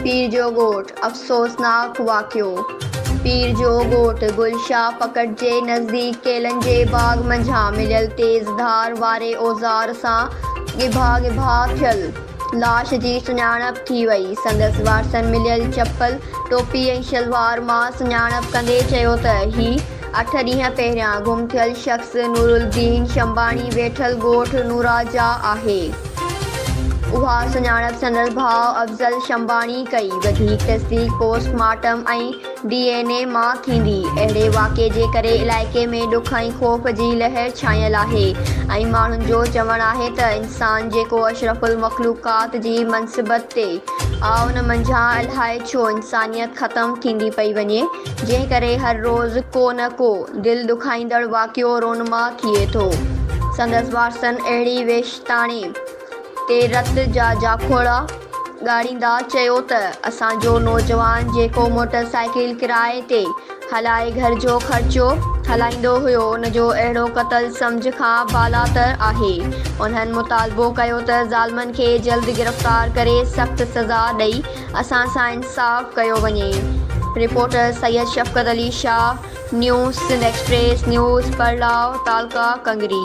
پير جو ڳوٺ، افسوسناڪ واقعو! پير جو ڳوٺ گل شاهه پڪٽ جي نزديڪ ڪيلن جي باغ منجهان مليل تيز ڌار واري اوزار سان ڳڀا ڳڀا ٿيل لاش جي سڃاڻپ ٿي وئي. سندس وارثن مليل چپل، ٽوپي ۽ شلوار مان سڃاڻپ ڪندي چيو ته هي اٺ ڏينهن پهريان گم ٿيل شخص نورالدين شنباڻي ويٺل ڳوٺ نورا جا آهي. اها سڃاڻپ سندس ڀاء افضل شنباڻي ڪئي. وڌيڪ تصديق post mortem ۽ D N A مان ٿيندي. اهڙي واقعي جي ڪري علائقي ۾ ڏک ۽ خوف جي لهر ڇانيل آهي ۽ ماڻهن جو چوڻ آهي ته انسان جيڪو اشرف المخلوقات جي منصبت تي آ ان منجهان الائي ڇو انسانيت ختم ٿيندي پئي وڃي. جنهن ڪري هر روز ڪو نه ڪو دل ڏکائيندڙ واقعو رونما ٿئي ٿو. سندس وارثن اهڙي ويشتاڻي تي رت جا جاکوڙا ڳاڙيندا چيو ته اسان جو نوجوان جيڪو موٽر سائيڪل ڪرائي تي هلائي گهر جو خرچو هلائيندو هيو ان جو اهڙو قتل سمجهه کان بالاتر آهي. انهن مطالبو ڪيو ته ظالمن کي جلد گرفتار ڪري سخت سزا ڏئي اسان سان انصاف ڪيو وڃي. Reporter Syed Shafqat Ali Shah news Sindh Express news پرلاء تعلقه ڪنگري.